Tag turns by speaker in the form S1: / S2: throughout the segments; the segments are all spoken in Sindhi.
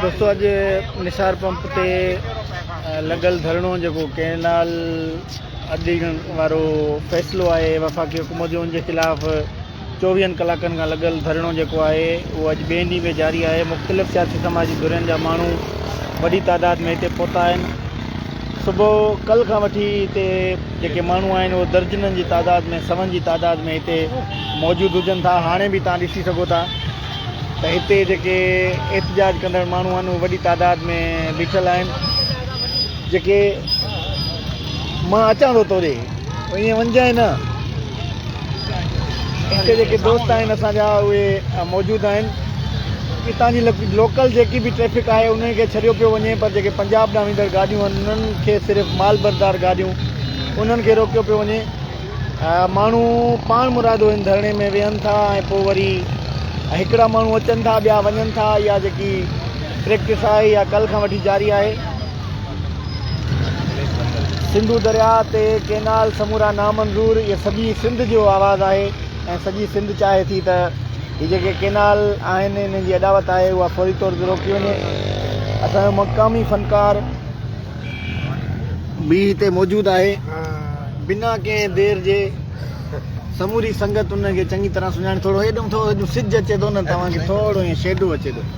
S1: دوستو اڄ نثار پمپ تي لڳل ڌرڻو جيڪو ڪينال اڏيڻ وارو فيصلو آهي وفاقي حڪومت جو ان جي خلاف چوويهن ڪلاڪن کان لڳل ڌرڻو جيڪو آهي اهو اڄ ٻئي ڏينهن به جاري آهي مختلف سياسي سماجي ڌرين جا ماڻهو وڏي تعداد ۾ هتي پهتا آهن صبح ڪل کان وٺي هتي جيڪي ماڻهو آهن اهو درجنن جي تعداد ۾ سون جي تعداد ۾ هتي موجود هجن ٿا هاڻي به تان ڏسي سگهو ٿا ته هتي جيڪي احتجاج ڪندڙ ماڻهو آهن اهو وڏي تعداد ۾ بيٺل آهن جيڪي مان اچان ٿو توڙي ائين وڃجانء نه. اتي جيڪي دوست آهن اسان جا اهي موجود آهن. اتان جي لوڪل جيڪي به ٽريفڪ آهي انهن کي ڇڏيو پيو وڃي پر جيڪي پنجاب ڏانهن ويندڙ گاڏيون آهن انهن کي صرف مال بردار گاڏيون انهن کي روڪيو پيو وڃي. ماڻهو پاڻ مرادو هن ڌرڻي ۾ ويهن ٿا ۽ پوء وري هڪڙا ماڻهو اچن ٿا ٻيا وڃن ٿا اها جيڪي پريڪٽس آهي اها ڪلهه کان وٺي جاري آهي. سنڌو درياء تي ڪينال سمورا نامنظور اهي سڄي سنڌ جو آواز آهي ۽ سڄي سنڌ چاهي ٿي ته هي جيڪي ڪينال آهن انهن جي اڏاوت آهي اها فوري طور تي روڪي وڃي اسان جو مقامي فنڪار به هتي موجود آهي بنا ڪنهن دير جي سموري سنگت ان کي چڱي طرح سڃاڻي ٿورو هيڏانهن ٿورو سج اچي ٿو نه توهان کي ٿورو ائين شيڊو اچي ٿو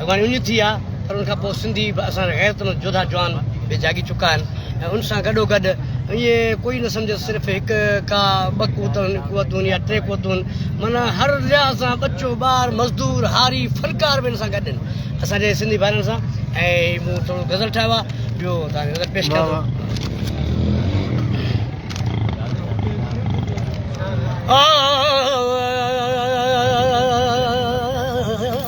S2: اڳواڻي ان جي ٿي آهي پر ان کان پوء سنڌي به اسان جا غيرت مند جوڌا جوان به جاڳي چڪا آهن ۽ ان سان گڏو گڏ ائين ڪوئي نه سمجهي صرف هڪ ڪا ٻه قوتون قوتون يا ٽي قوتون معنيٰ هر لحاظ سان ٻچو ٻار مزدور هاري فنڪار به ان سان گڏ آهن اسان جي سنڌي ڀائرن سان ۽ مون ٿورو غزل ٺاهيو آهي ٻيو توهان غزل پيش ڪيان ٿو Oh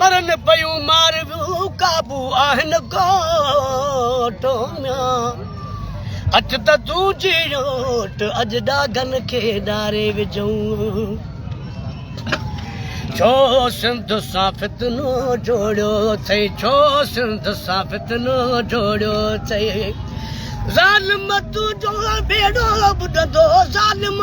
S2: مرن پيون مارويون قابو آهن ڳوٺ ميان اچ ته تون جيوٽ اڄ ڏاگن کي ڏاري وجهون ڇو سنڌ سان فتنو جوڙيو اٿئي ڇو سنڌ سان فتنو جوڙيو اٿئي ظالم تنهنجو بيڙو ٻڏندو ظالم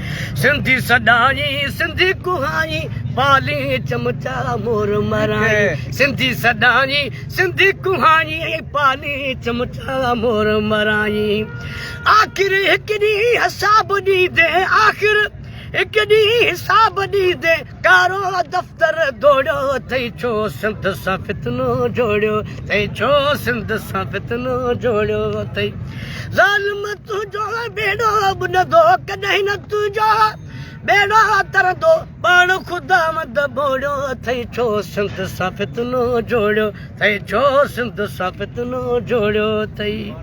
S2: سنڌي سڏائين سنڌي ڪهائين، پالين چمچا مور مرائين. سنڌي سڏائين سنڌي ڪهائين، پالين چمچا مور مرائين. آخر هڪ ڏينهن حساب ڏيندين، آخر هڪ ڏينهن حساب ڏيندين. ڪارو دفتر ڊوڙيو تئين ڇو سنڌ سان فتنو جوڙيو تئين ڇو سنڌ سان فتنو جوڙيو تئين ظالم تنهنجو بيڙو ٻڏندو ڪڏهن نه تنهنجو بيڙو ترندو پاڻ خدا مند بوڙيو تئين ڇو سنڌ سان فتنو جوڙيو تئين ڇو سنڌ سان فتنو جوڙيو تئين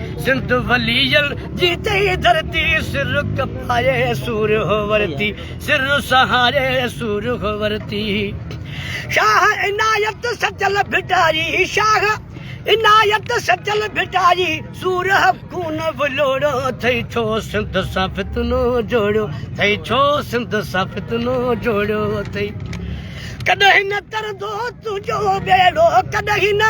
S2: سنڌ وليل جي تهي ڌرتي سرک پائي سورهه ورتي سر سهاري سورهه ورتي شاهه عنايت سچل ڀٽاري شاهه عنايت سچل ڀٽاري سورهه خون ولوڙو ٿئي ڇو سنڌ سان فتنو جوڙيو ٿئي ڇو سنڌ سان فتنو جوڙيو ٿئي ڪڏهن نه ترندو تنهنجو ٻيڙو ڪڏهن نه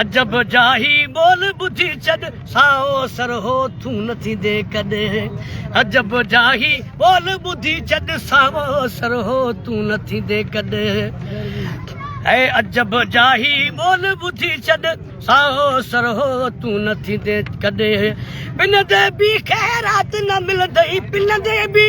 S2: عجب جا هي ٻول ٻڌي چڏ سائو سر هو ٿون نه ٿيندي ڪڏ عجب جا هي ٻول ٻڌي چڏ سائو سر هو ٿون نه ٿيندي ڪڏ اي عجب جا هي ٻول ٻڌي چڏ سائو سر هو ٿون نه ٿيندي ڪڏ پنندي به خيرات نه ملندئي پنندي به